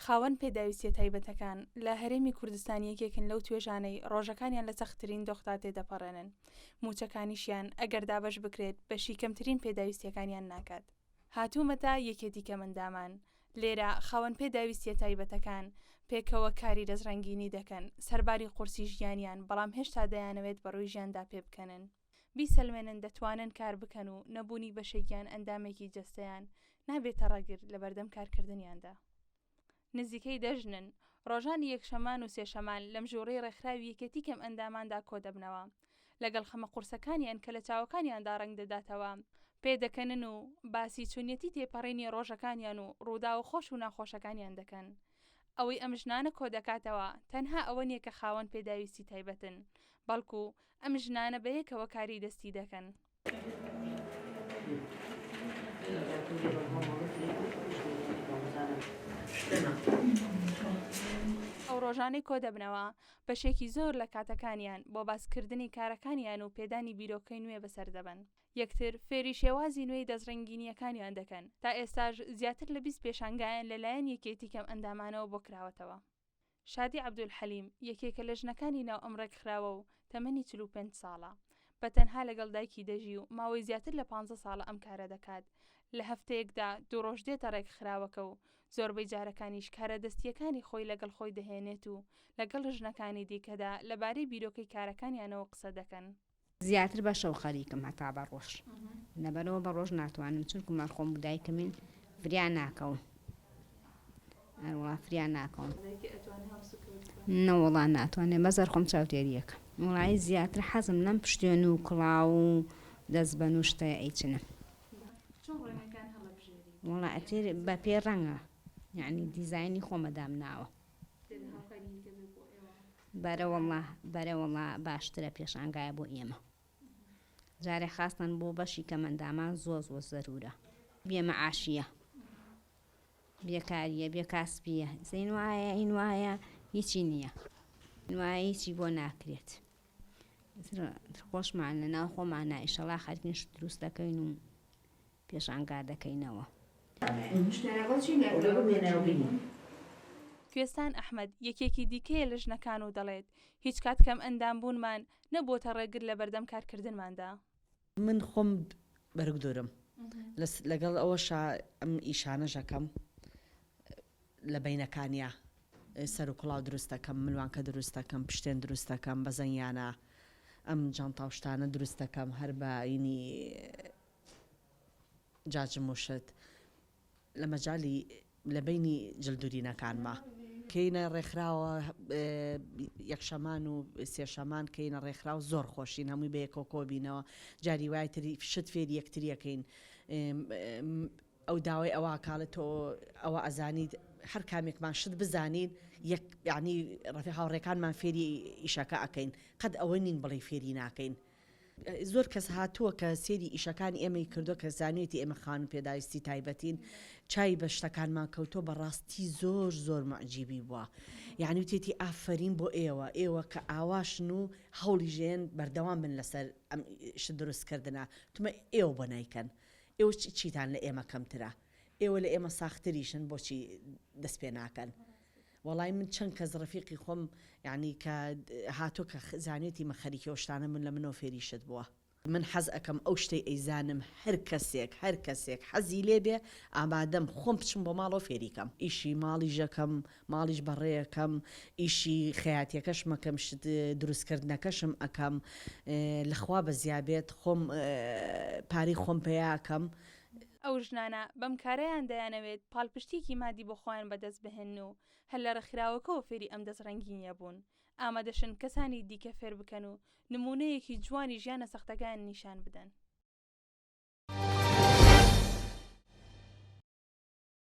خاوەن پێداویستیە تایبەتەکان لە هەرێمی کوردستان یەکێکن لەو توێژانەی ڕۆژەکانیان لە سەختترین دۆخدا تێدەپەڕێنن موچەکانیشیان ئەگەر دابش بکرێت بەشی کەمترین پێداویستیەکانیان ناکات هاتوومەتە یەکێتی کەمەندامان لێرە خاوەن پێداویستیە تایبەتەکان پێکەوە کاری دەستڕنگینی دەکەن سەرباری قورسی ژیانیان بەڵام هێشتا دەیانەوێت بەڕووی ژیاندا پێبکەنن بیسەلمێنن دەتوانن کار بکەن و نەبوونی بەشێک یان ئەندامێکی جەستەیان نابێتە ڕەگر لەبەردەم کارکردنیاندا. نزیکەی دە ژنن، ڕۆژانی یەکشەمان و سێشەمان لەم ژووڕی ڕێکخراوی یەکێتی کەمئەنداماندا کۆدەبنەوە، لەگەڵ خەمە قورسەکانیان کە لە چاوەکانیاندا ڕەنگ دەداتەوە، پێدەکەنن و باسی چۆنیەتی تێپەڕینی ڕۆژەکانیان و ڕووداوە خۆش و ناخۆشەکانیان دەکەن. ئەوەی ئەم ژنانە کۆدەکاتەوە تەنها ئەوە نییە کە خاوەن پێداویستی تایبەتن، بەڵکو ئەم ژنانە بەیەکەوە کاری دەستی دەکەن. ئەو ڕۆژانەی کۆدەبنەوە، بەشێکی زۆر لە کاتەکانیان بۆ باسکردنی کارەکانیان و پێدانی بیرۆکەی نوێ بەسەر دەبەن. یەکتر فێری شێوازی نوێی دەستڕنگینییەکانیان دەکەن. تا ئێستاش زیاتر لە بیست پێشانگایان لەلایەن یەکێتی کەمئەندامانەوە بۆ کراوەتەوە. شادی عەبدولحەلیم یەکێکە لە ژنەکانی ناو ئەم ڕێکخراوە و تەمەنی چل و پێنج ساڵە، بە تەنها لەگەڵ دایکی دەژی و ماوەی زیاتر لە پانزە ساڵە ئەم کارە دەکات، لە هەفتەیەکدا دوو ڕۆژ دێتە ڕێکخراوەکە و زۆربەی جارەکانیش کارە دەستییەکانی خۆی لەگەڵ خۆی دەهێنێت و لەگەڵ ژنەکانی دیکەدا لەبارەی بیرۆکەی کارەکانیانەوە قسە دەکەن. زیاتر بە شەو خەریکم هەتا بە ڕۆژ لەبەرەوە بە ڕۆژ ناتوانم چونکو مەر خۆم دایکمین فریا ناکەون ئەروە فریا ناکەون نەوەڵا ناتوانێت بەزەر خۆم چاوتێریەکە وڵایی زیاتر حەزم لەم پشتێن و کڵاو و دەست بە نوشتە ئەیچنە وڵا ئەتێر بە پێ ڕەنگە یعنی دیزایانی خۆمەدام ناوە بەرەوەڵا بەرەوەڵا باشترە پێشانگایە بۆ ئێمە جارێ خاستەن بۆ بەشی کەمەندامان زۆر زۆر زەرورە بێ مەعاشیە بێکاریە بێ کاسپیە زین وایە این وایە هیچی نییە وایە هیچی بۆ ناکرێت خۆشمان لە ناو خۆمان نایشەڵا خەرکین دروست دەکەین و پێشانگا دەکەینەوە. کوێستان ئەحمەد، یەکێکی دیکەیە لە ژنەکان و دەڵێت، هیچ کات کەمئەندام بوونمان نەبووەتە ڕێگر لە بەردەم کارکردنماندا. من خۆم بەرگدورم، لەگەڵ ئەوەشا ئەم ئیشانەش ئەکەم لە بەینەکانیا، سەروکڵاو دروست دەکەم، ملوانکە دروست دەکەم، پشتێن دروست دەکەم، بەزەنگیانە ئەم جانتا و شتانە دروست دەکەم، هەر بە ینی جا جم و شت لە مەجالی لە بەینی جلدورینەکانما کەینە ڕێکخراوە یەکشەمان و سێشەمان کەینە ڕێکخراو زۆر خۆشین هەمووی بە یەکەوە کۆبینەوە جاری وای تری شت فێری یەکتریەکەین ئەو داوای ئەوە کاڵێت تۆ ئەوە ئەزانیت هەر کامێکمان شت بزانین یەک یعنی ڕفی هاوڕێکانمان فێری ئیشەکە ئەکەین قەت ئەوە نین بڵێ فێری ناکەین زۆر کەس هاتووە کە سێری ئیشەکانی ئێمەی کردوە کە زانیوێتی ئێمە خانوو پێداویستی تایبەتین چاوی بە شتەکانمان کەوتوە بە ڕاستی زۆر زۆر موعجیبی بووە یانی وتێتی ئافەرین بۆ ئێوە ئێوە کە ئاواشن و هەوڵی ژێن بەردەوام بن لەسەر ئەم ئیشە دروست کردنە تمە ئێوە بۆ نایکەن ئێوە چیتان لە ئێمە کەمترە ئێوە لە ئێمە ساختریشن بۆچی دەست پێ ناکەن وەڵای من چەن کەس ڕەفیقی خۆم یانی کە هاتوە کە زانێتی مە خەریکی ئەو شتانە بون لە منەوە فێری شت بوە. من حەز ئەکەم ئەو شتەی ئەیزانم هەر کەسێک هەر کەسێک حەزی لێ بێ ئامادەم خۆم بچم بۆ ماڵەوە فێری کەم ئیشی ماڵیش ئەکەم ماڵیش بەڕێ ئەکەم ئیشی خەیاتیەکەشم ئەکەم شت دروست کردنەکەشم ئەکەم لە خوا بەزیا بێت خۆم پارەی خۆم پەیا ئەکەم ئەو ژنانە بەم کارەیان دەیانەوێت پاڵپشتییەکی مادی بۆ خۆیان بەدەست بهێنن و هەر لە ڕێکخراوەکەوە فێری ئەم دەستڕەنگینییە بوون، ئامادەشن کەسانی دیکە فێر بکەن و نموونەیەکی جوانی ژیانە سەختەکەیان نیشان بدەن.